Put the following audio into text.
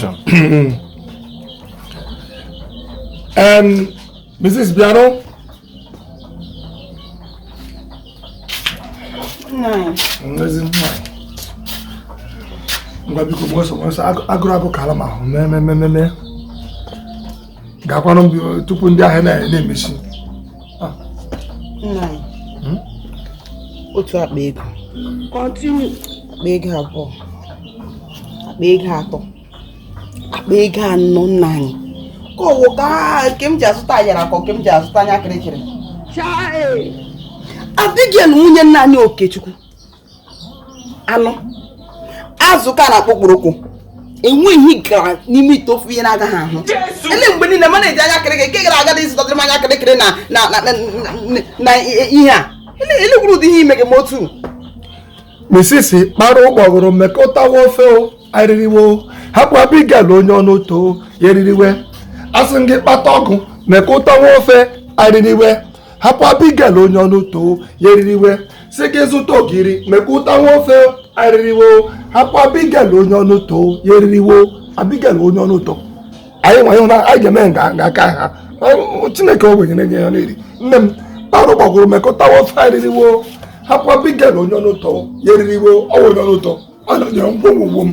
Foundation. um, Mrs. Biano. Nine. Ngwa biko mgbe ọsọ agụrụ agụ kalama ahụ mee mee mee mee gakwanụ tupu ndị ahịa na-emesi ah. hmm? otu akpa ego akpa ego abụọ akpa ego atọ akpa ego anọ nna anyị ka ọ wụ ka nke m ji azụta ayara ka nke m ji azụta anya kịrịkịrị Abigail nwunye nna anyị Okechukwu anụ azụ ka na-akpọ okporoko enweghị ihe gara n'ime ite ofe ihe na-agaghị ahụ ele mgbe niile mana eji anya kịrịkịrị nke gara aga ị zụtara m anya kịrịkịrị na ihe a ele gwuru ụdị ihe ime gị ma otu misisi kpara ụgbọgụrụ mekọtawa ofe o eririwe o hapụ abigail onye ọnụ ụtọ ya eririwe asị m gị kpata ụgụ mekọtawa ofe eririwe hapụ abigail onye ọnụ ụtọ ya eririwe sị gị zụta ogiri mekọtawa ofe eririwe o hapụ abigail onye ọnụ ụtọ ya eririwe o abigail onye ọnụ ụtọ anyị nwa ịhụ na anyị ga-eme nganga aka ha Ọ- chineke ogbenye na-enye ya na-eri nne m kpara ụgbọgụrụ mekọtawa ofe eririwe o hapụ abigail onye ọnụ ụtọ ya eririwe o ọ wụ onye ọnụ ụtọ ọ nọnyere ngwongwo m